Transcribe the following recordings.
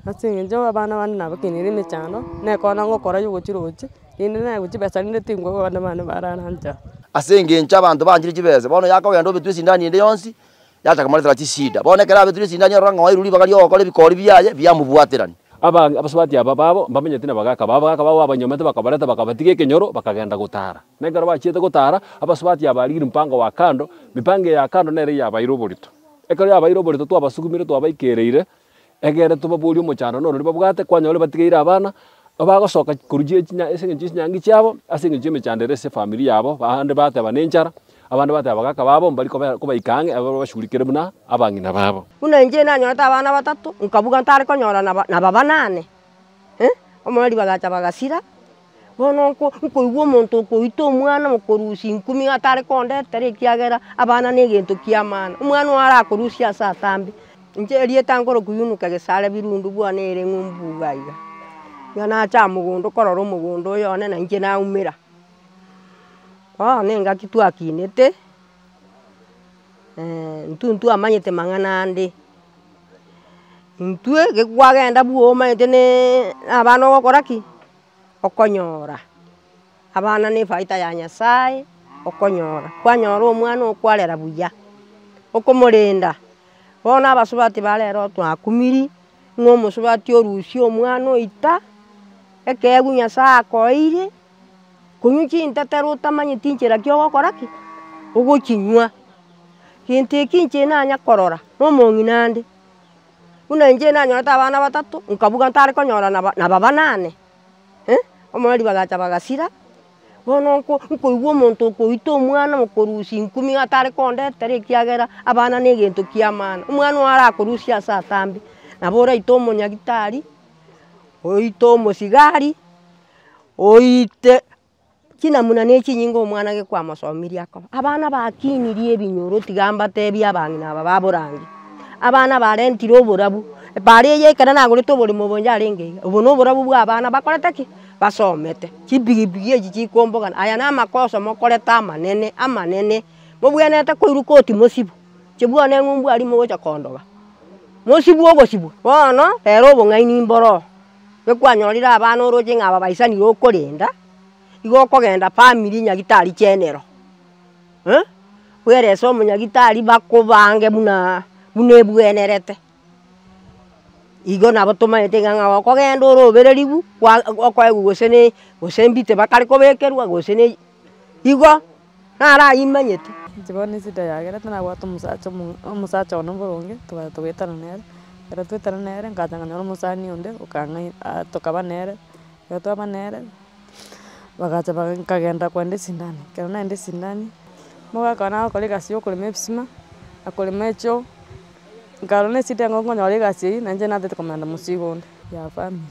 Ase eng'encho abana bande nabakeneire emechando, nekona ngokora ya ogochia roche, rende naye gochia besa rende tingokwa abana bane barare ancha. Ase engencho abanto banchire chibesa, bono yakogenda obetwe esindani ende yonsi, yachaka komoretera chisida. Bono ekero abetire esindani arora ng'a oeirwe ribaga ri'ogokora ebikori biaye, biamobwaterani. Abange abasubati aba babo mbamenyeti nabagaaka babo, abagaaka babo babanyomete bakabareta bakabatiga ekenyoro, bakagenda gotaara. Na ekero bachiete gotaara, abasubati aba barigirie mopango owa kando, mipango eye ya kando nere yabaire oborito. Ekero yabaire oborito twabasugumire twabaikereire, Egere tobaborie omochando noro oria babwate, kwanyora batigeire abana, bagosoka korwa chie chinya ase eng'encho chinyangi chiabo, ase eng'encho y'emechando ere ase efamiri yabo, bande bateba nenchara, abande bateba abagaka babo mbari kobe kobaika ang'e ababo babashugurikere buna abang'ina babo. Buna inche nanyorete abana batato, nkabuga ntare konyora naba naba banane. Omorwari bagacha bagasira, bono nko nkoigwa omonto okoita omwana omokorusia ingumi iga atare kondetera ekiagera abana negento kiamana, omwana oyo arakorusia ase atambe, inche erieta nkoroku Yunuke Gesare Birundu bwane ere ng'umbu iga iga. Iga nacha mogondo korora omogondo oyo one nainche naumera. Bono engaki twakinete. intwe ntwamanyete mang'ana ande, intwe geki kwagenda bwa omanyete na abana ogokora ki? okonyora, abana ne efaida ya nyasaye, okonyora, kwanyora omwana oo kwarera buya, okomorenda, bono abasubati ba rero otwakumiri, ng'a omosubati orusie omwana oita, ekeegwa nyasaye akoeire, Konywa chintetero otamanyeti nchera ki ogokora ki? Ogochinywa. Gento eki inche nanya korora na omong'ina ande, buna inche nanyorete abana batato nkabuga ntare konyora naba naba banane eh, omorero ribagacha bagasira, bono nko nkoigwa omonto okoita omwana omokorusia ingumi iga atare kondetera ekiagera abana na egento ki'amana, omwana oye arakorusie ase atambe, nabo oraite omonyagitari, oite omosigari. Oite chinamuna ne chinyinga omwana gekwamosomirie akoba. Abana bakinirie ebinyoro tiga mbatebie abang'ina aba ba borange. Abana barentire oborabu, paaro eye ekero nagorete oborimo obo yarenge iga, obo no oborabu bwa abana bakorete ki? Basomete. Chipigipigi echi chikombogana, aya na amakoso mokorete amanene amanene. Mobwenerete koirwa koti mosibwe, inche bwane ng'a ombwari mogocha kondoba, mosibwe ogosibwa, bono rero obong'aini mboro oo. gekwanyorire abana oroche ng'a babaisanire okorenda, igo okogenda family nyagitari chenero eh, bwerese omonyagitari bakobange buna buna ebwenerete, igo nabo tomaete iga ng'a okogenda ore obereribu kwa okoegwa gose ne gose mbite bakare kobekerwa gose ne igo. narayimanyete. Inche bono esida yagerete nabwate omosacha omo omosacha one boronge twabate togoetana nere, ekero twaetana nere nkacha nkanyora omosani onde okang'ai aa tokaba nere, ekero twaba nere, bagacha baga nkagenda kogenda esindani, ekero nagenda esindani, nigo akaba nagokora egasi ya okorema ebisima, na korema echoo, nkarora na esida engo nkonyora egasi eywo, nainche natete komenta mosigo onde ya family.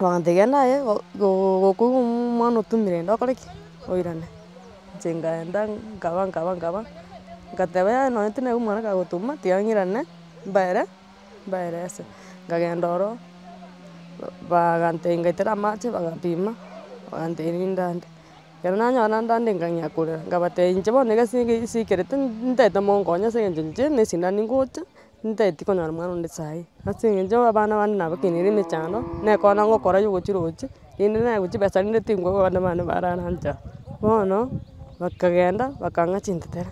Ogante gento aye gokoigwa omwana otumire ende okore ki? Oirane. Inche nkaenda nkaba nkaba nkaba nkateba yaya nonye tinaigwa omwana kagotuma tiga ng'irane mbaere mbaere ase. Nkagenda ororo bagantebi ngaitera amache bagapima bagantebi ninde ande. Ekero nanyora nande ande nkang'ea korera nkabatebi inche bono egasi eke nsikerete ntete monkonye ase eng'encho inche na esindano ningocha. Ntaeti konyora mwana onde saii, ase eng'encho abana bande nabakeneire emechando, na ekero nabo ngokora ya ogochia roche, rende naye gochia besa rende tingokwa abana bane barara ncha. Bono bakagenda bakang'a chintetere,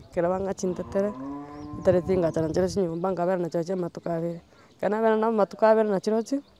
ekero bang'a chintetere, chintetere tigachanachire chinyomba, nkabera nachirochio amatuko abere, ekero nabera nabo amatuko abere nachirochio.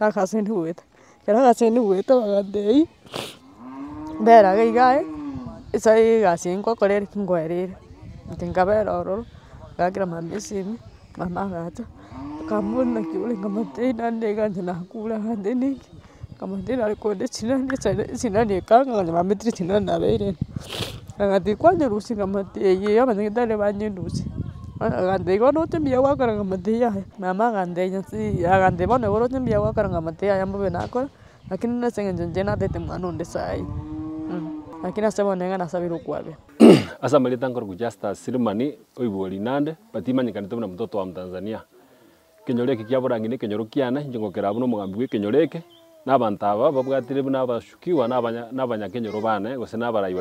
nagasenuete, ekero nagasenuete bagatebia, bera iga iga aye, ase egasi eye nkogokora ere ki nkoerere, inche nkabera ororo, ngakera mama esimi, mama agacha, akambori naki ore, nkamotebia naende iga inche nakure aa, naende niki, nkamotebia nare konyora chinani, echaine chinani ekanga, nonya bametire chinani nabeire ime, agatiga kwanyerusia, nkamotebia eyio eyio abanyene tari banyerusie. Agantebia, Bono oche mbuya gwakorera amatiyi aya? Mama agantebia, Zii. Agantebia, Bono igoro oche mbuya gwakorera amatiyi aya mbobe nakore, lakini buna ase eng'encho inche natete mwana onde saii, lakini ase bono niga nasabire okwabera. Ase amarieta nkorokwa Justus Silimani oigwa Rinande but imanyekanete buna Mtoto wa Mtanzania. Ekenyoro eke kiaborang'ini ekenyoro kiane, inche ngokera buna omogambi bw'ekenyoro eke, na abanto aba babwatire buna abasukigwa na abanyakenyoro baane, gose na abarai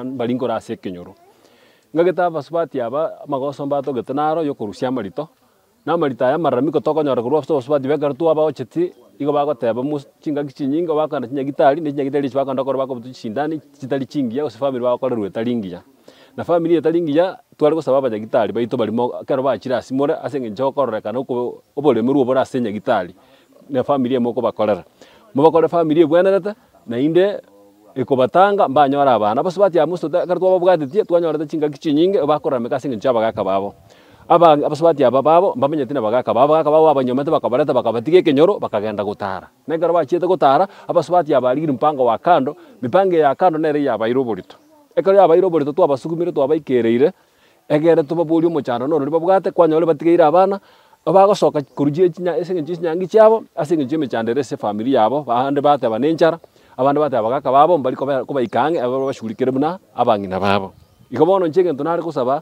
mbari nkoro ase ekenyoro. Ngagete abasubati aba amagoso mbatogete naro y'okorusia amarito, na amarito aya amararami kotokonyora korwa ase obosubati bw'ekero twabaocheti, nigo bagoteba chingaki chinyinge, bagoakana chinyagitari, ne chinyagitari echi bagoakana bakobotwa chisindani chitari chingiya, gose famiri bagokorerwa etari engiya. Na famiri etari engiya tware gosaba abanyagitari baito barimo ekero bachire ase more ase engencho y'okororekana oko oboremerwa obore ase nyagitari na famiri emo okobakorera. Mobakore famiri ebwenerete naende ekobatanga mbanyore abana. Bonsi batia amo obosuto ekero twababwatetie twanyorete chingaki chinyinge bakorameka ase engencho y'abagaka babo. Aba abasubati aba babo mbamenyeti na abagaka babo, abagaka babo babanyomete bakabareta bakabatiga ekenyoro bakagenda gotara. Na ekero bachiete gotara abasubati aba barigirie mopango wa kando, mipango eye ya kando nere yabaire oborito. Ekero yabaeire oboreto twabasugumire twabaikerire, egere tobaborie omochando norori babwate, kwanyore batigeire abana, bagosoka korwa chire chinya ase engencho y'echinyangi chiabo, ase engencho y'emechando ere ase efamiri yabo, bande bateba nenchara, abande bateba abagaka babo mbari koba kobaika ang'e, ababasugurikere buna abang'ina babo. Igo bono inche egento nare gosaba.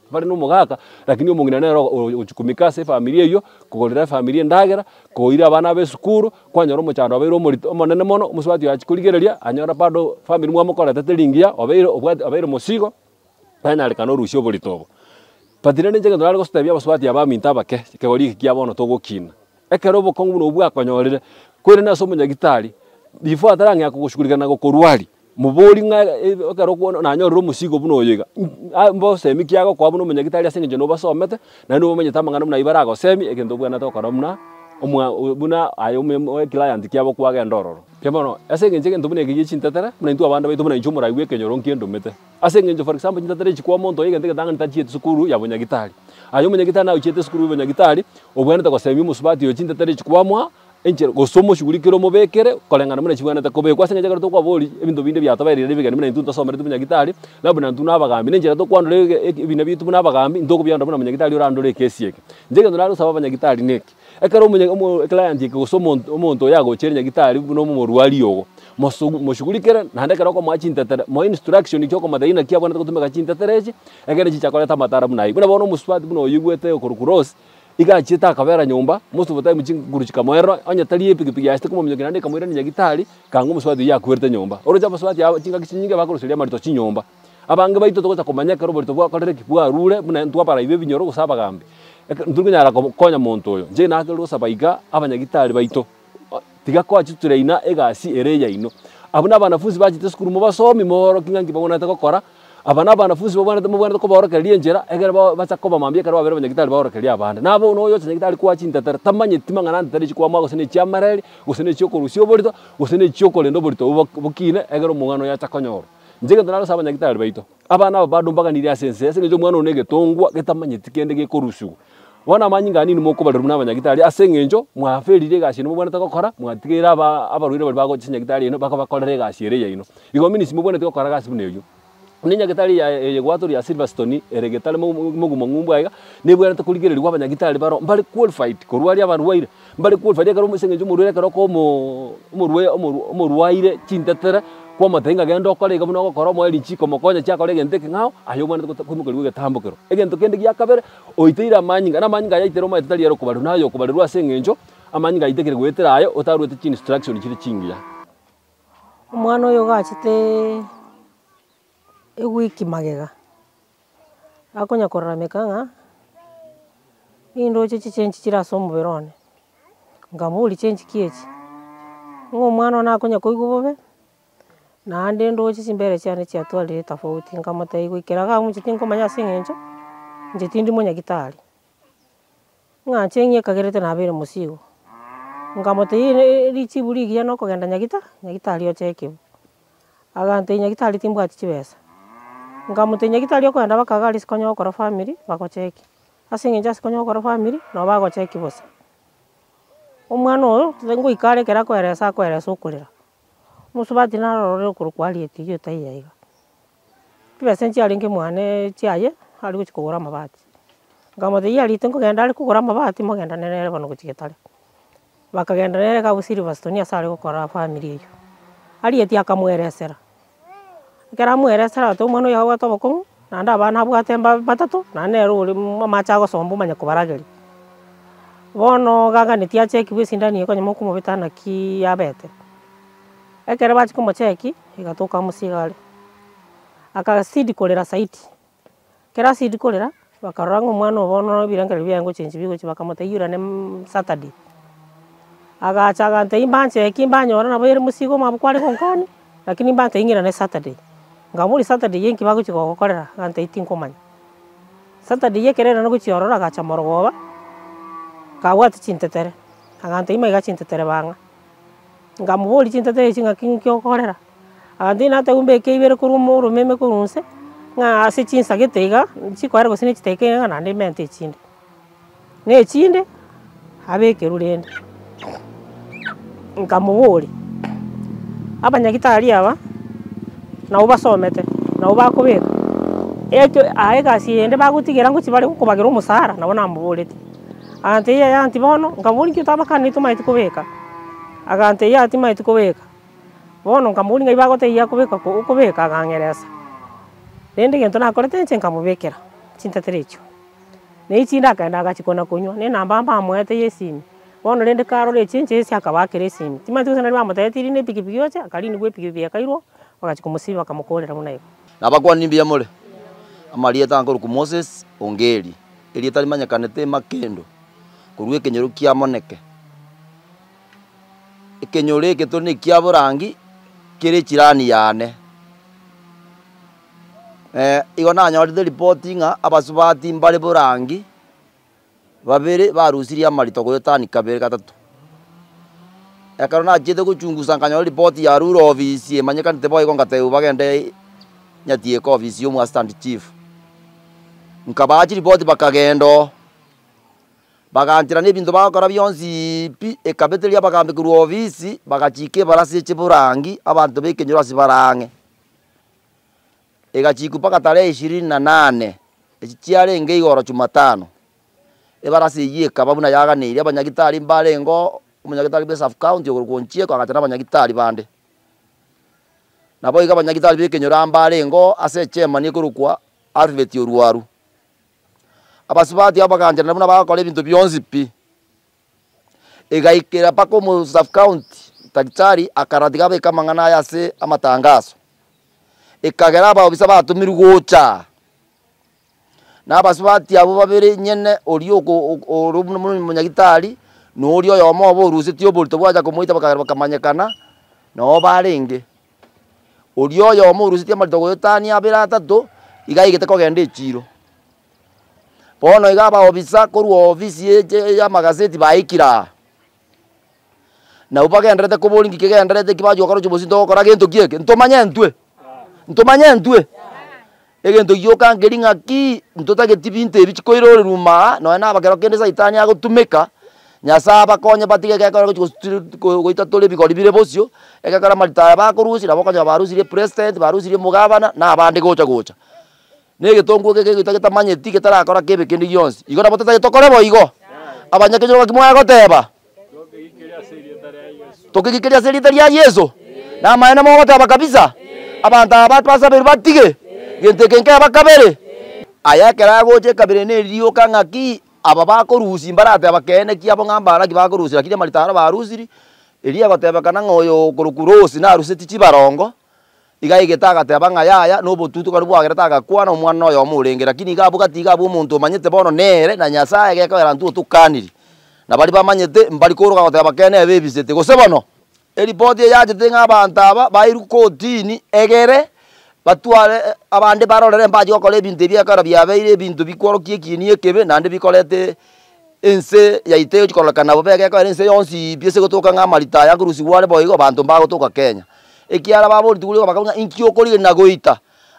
Bare nomogaka, lakini omong'ina nere ogochikumika ase efamiri eyio, kogorera efamiri endagera, koira abana abe esukuru, kwanyora omochando obeire omorito omonene mono, omosubati oye achia korigereria, anyora bado famiri mwamokorete teri engiya, obeire obwati obeire mosigo, nanyarekana orusie oborito obo. But rende inche egento nare gotebia abasubati abanto abanto abanto abake, kegori eke kia bono togokina, Ekero obokong'u buna obwo bwakonyorire, koirana ase omonyagitari, before atarang'ea kogoshugurika na gokorwaria, mobori ng'a ekero okwo nanyorire omosigo buna oyo iga, ng'a mbosemi ki agokoa buna omonyagitari ase eng'encho nobasomete, naende nigo omanyete amang'ana buna ayio baragosemie, egento obwenerete gokora buna omwa buna aye omwa eclient kiabo kwagenda ororo. Inche bono, ase eng'encho egento buna eke gie chintetera, buna intwe abande baito buna inche omorai bw'ekenyoro nkiendomete. Ase engencho for example chintatera echi kwa omonto oye egento egetang'ani tachiete sukuru ya bonyagitari. Aye omonyagitari naye ochiete sukuru y'obonyagitari, obwenerete gosemia omosubati oyo chintetera echi kwamwa, enchera gose omoshugurikere omobekere koreng'ana buna chibwenerete kobekwa. Ase engencho ekero tokwabori ebinto binde biatobaire riria ebegeni buna intwe ntosomereti bonyagitari, na buna intwe nabagambi, nenchera tokwandora ebina biaito buna abagambi, intwe okobiandora buna monyagitari orandore ekesi eke. Inche egento nare gosaba abanyagitari neke. Ekero omonye, omo, eclient eke gose omonto, omonto oyo agochiire nyagitari buna omorwari ogo, mosugu, moshugurikere, naende ekero okomoa chintetere, moe instruction chi'okomata eyio naki abwenerete gotumeka chintetere echi, ekeene chicha koreta amatara buna ayio. Buna bono omosubati buna oyoigwete okorwa Kuros, iga achiete akabera nyomba, most of the time chinguru chikamoerera, onye tari epikipiki yaye ase komominyokia naende ekamoirania nyagitari, ekanga omosubati oyio yakwerete nyomba. Oroche abasubati aba chingaki chinyinge bakoruseria amarito chinyomba. Abange baito togocha komanya ekero oborito bwakorire ki, bwarure, buna intwe abaraibi b'ebinyoro gose abagambi, eke, ntiri konyara konya monto oyo. Inche naakire gosaba iga abanyagitari baito, Tiga koa chituri aina egasi ere eyaino. Abwo nabanafunsi bachete esukuru, mobasomi, mobaorokie ng'a nki babwenerete gokora. Aba nabanafunsi babwenerete, mobwenerete kobaorokereria enchera, ekero ba, bacha koba mambia ekero babeire abanyagitari baorokerie abande. Nabo nonya oyochia nyagitari koa chintetero, tamanyeti mang'ana antetero echio kwamoa gose nechiamareri, gose nechiokorusia oborito, gose nechiokorenda oborito obo bokine, ekero omong'ina oyo acha konyorwa. Inche egento narose abanyagitari baito, abana aba badumbaganire ase ense, ase engencho omwana one negetongwa getamanyeti kende gekorusigwa. Bono amanyinga ane inwe mokobarerwa buna abanyagitari, ase engencho mwaferire egasi yaino mobwanete gokora, mwatigeire aba abarwaire baria bagocha ase enyagitari yaino bakabakorera egasi ere yaino. Igo minisiki mobwaneti gokora gasi buna eyio. Buna enyagitari eye yaye eye gwatorire ya Silverstone, ere getare mo- mo- mogumo ng'umbaaiga, nebwanete korigererigwa abanyagitari baroo mbare qualified korwaria abarwaire. Mbare kwolwa faida ekero ase eng'encho omorwaire ekero okoa omo omorwaire omorwa omorwaire chintetera, kwamotebia ng'a genda okore iga buna ogokora omoe richiko omokonye ache akore egento eke ng'ao, aye obwanete gote koimokerigwa egetambokero. Egento kende gia kabere, oiteire amanyinga, na amanyinga aya aiteire omanyete tari are okobarerwa naye okobarerwa ase eng'encho amanyinga aye taikire goetera aye otaruete chi instruction chire chingiya. Omwana oyo ogachete ewiki magega. akonya korarameka ng'a nindoche chichenchi chire ase omobere one, nkamoboria chenchiki echi, ng'a omwana one akonya koigwa bobe, naende ndoche chimbere chiane chiatwarire tofauti, nkamotebia goikera iga agochia tinkomanya ase eng'encho inche tindi monyagitari. Ng'a chieng'ia ekagerete nabeire mosigo, nkamotebia richiburi rigiya nokogenda nyagitari, nyagitari oche ekebo. Agantebia nyagitari timbwati chibesa, nkamotebia nyagitari okogenda baka iga arise konya gokora famiri bagocheki. Ase eng'encho ase konya gokora famiri, nabo bagocheki bosa. Omwana oyo, ngoika are ekero akoeresa akoeresa okorera. Omosubati narorire okorokwa Harriet oyio taiyo aiga, chibesa echio chiarenge mwane chiaye ari gochia kogora amabati, nkamotebia Harriet nkogenda are kogora amabati mogenderane nere bono gochia getari, bakagenda nere kagwo Silverstone ase are gokora family eyio, Harriet akamoeresera. ekero amoeire esara agoteba omwana oyo agobwate obokong'u, naende abana abwate mba batato, naende nere ore amache agosomba omanye kobarageria. Bono ogaganetie achekigwe esindani eye okonyora mokomobeta naki yabete, ekero bachia komocheki, egatoka amo iga are, akasidi korera zaidi. Ekero asiri korera, bakarora ng'a omwana oo bono ebirengererio biaye ngochenchwa bigochia bakamotebia yura ne Saturday. Agacha agantebia imbache eki mbanyora nabo ere mosigo omwabo kware konkania, lakini mbantebia ng'ira ne Saturday. Nkamoboria Saturday eye nki bagochia kogokorera? Agantebia tinkomanya. Saturday eye ekero erende gochia ororo agacha morogoba, akabwati chintetere, agantebia maiga chintetere bang'a. Nkamoboria chintetere echi ng'aki ng'aki okorera? Abanto inatagwe mbeke ibere korwa omoromeme korwa onse, ng'a ase chinsagete iga, chikoera gose ne chiteka iga naende imenta echinde, na echinde abekerwe rende. Nkamoboria, abanyagitari aba nabo basomete, nabo bakobeka, eke aye egasi eye ende bagotigera ngochia bare gokobagera omosara, nabo namoboretie, abanto eyio yaanti bono, nkamoboria inki otabakanetie omanyete kobeka? Abanto eyio atimanyeti kobeka. Bono nkamobori ng'ai bagotebia akobeka okobeka agang'eresa. Rende egento nakorete inche nkamobekera chintetera echio, na echinde akagenda agachia kona konywa, ne enamba mbamoete ya esimi, bono rende karora echi enche ase akabaakera esimi. Timanyeti gose nari bamotebeti rinde epikipiki oche, akarindwa epikipiki ekairwa, bagachia komosiba bakamokorera buna eko. Nabakuani mbuya more, amarieta akorokwa Moses Ongeri, erieta rimanyekanete Makendo, korwa ekenyoro kia Moneke. Ekenyoro eke tore nekia borangi kere echirani yane. Igo nanyorete ripoti ng'a abasubati mbare borangi babere barusirie amarito goetania kabere gatato. Ekero nachiete gochungusa nkanyora ripoti ya rure ofisi emanyekanete boigo nkatebiwa bagende Nyatieka ofisi ya omo assistant chief. Nkabaha chiripoti bakagenda oo. Bagaanchera nebinto bagokora bionsi pi ekabeteria abagambi korwa ofisi, bagachiika ebarasi ye chiburangi abanto b'ekenyoro ase bare ang'e. Egachiikwa mpaka tarehe ishirini na nane, echi chiarenge igoro Jumatano. Ebarasi eyio ekaba buna yaganeirie abanyagitari mbarengeo, omonyagitari bwe sub county okorokwa Onchieko agacha na abanyagitari bande. Naboigo abanyagitari b'ekenyoro mbarengeo ase echemani ekorokwa Alfred Oruaru, Abasubati abaganchanera buna bagokora ebinto bionsi pi. Egaikera mpaka omo sub county daktari akaratika abeke amang'ana aya ase amatangaso. Ekagera abaobisa batomirwe gocha aa na abasubati abwo babere enyene oria oko oko ore buna buna omonyagitari na oria oyomo oborusetie oborito bwacha komoita bakagera bakamanyekana nabo barenge. Oria oyomo orusetie amarito goyotania abere atato, iga aigete kogenda echiiro. Bono iga abaofisa korwa ofisi ye eche y'amagaseti baikire aa, nabwo bagendererete koboria ng'iki kegendererete eki bachia gokora ochi bosinto gokora gento ki eke? Ntomanye ntwe? Ntomanye ntwe? Egento gioka nkeri ng'aki ntotageti binto ebi chikoirorerwa ime aa, nonya nabakera kende Saitani agotumeka, Nyasae abakonye batige egekora gochi gosu goita tore ebigori bire bosio, egekora amarita aya bakorusia nabo okonyora barusirie president, barusirie omogabana, na abande gocha gocha. Na egetonguo eke kegoita getamanyeti getarakora kebe kende gionsi. Igo nabo totaete tokore boigo. Abanyakenyoro ng'aki mwaya goteba? Tokegikeri ase erieta ria Yeso. Namaene mogote aba kabisa. Abanto aba batwasabeiri batige gento eke nkebe bakabere. Aya ekero agocha ekabere nerioka ng'aki aba bakorusia mbarateba keene ki abo ng'a mbare naki bakorusia lakini amarito aro barusiri. Erio egotebekana ng'a oyo okorokwa Rosi naruseti chibarongo Igaegete agateba ng'a yaya nobotutukani bwagere tagakwana omwana noyomo orenge, lakini iga abwo gati iga abwo omonto omanyete bono nere na Nyasaye gekogera ntwe otokaniri, na baria bamanyete mbari koroka goteba kene ebebisete. Gose bono eripoti eyachete ng'a abanto aba bairwe kotini egere batware abande barorere mbache gokora ebinto ebi ekero biabeire ebinto bikworokia ekieni ekebe naende bikorete Ense yaito egochia kororokana nabo bega ekogera ense yonsi pi ase gotoka ng'a amarita aya nkorusigwa are boigo abanto mbagotoka Kenya. Ekiagera babooreti borigo bakaigwa ng'a inki okorigereria na goita?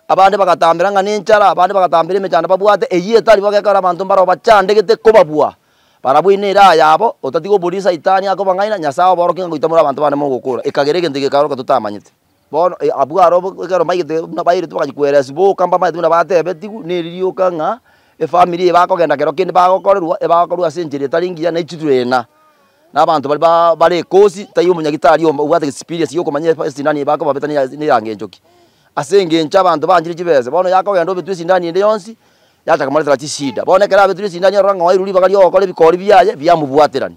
Abande bagatambera ng'a nenchara, abande bagatambera emechando babwate eyio etari bobe ekogera abanto mbarabwo bachandegete kobabua. Barabwo ine ere aya abo, otatiga oboriri Saitani akobang'aina, Nyasae oboorokie ng'a goita more abanto bane mogokora, ekagera egento eke gekaoroka totamanyete. Bono abwo aro ekero mbaigete buna bairete bagachia koeresi boka mbamanyete buna batebetigwe neri rioka ng'a efamiri eye bakogenda kero kende bagokorerwa ebagokorwa ase enchera etari engiya na echiturena na abanto baria baa bare ekosi tari omonyagitari omo obwate experience ya okomanya efa esindano eye bakobabeta ne ne erango encho ki. Ase engencho abanto banchire chibese bono yakogenda obetwe esindano ende yonsi yachaka komoretera chishida. Bono ekero abetirwe esindano arora ng'a owairwe ribaga ri'ogokora ebikori biaye biamobwaterani.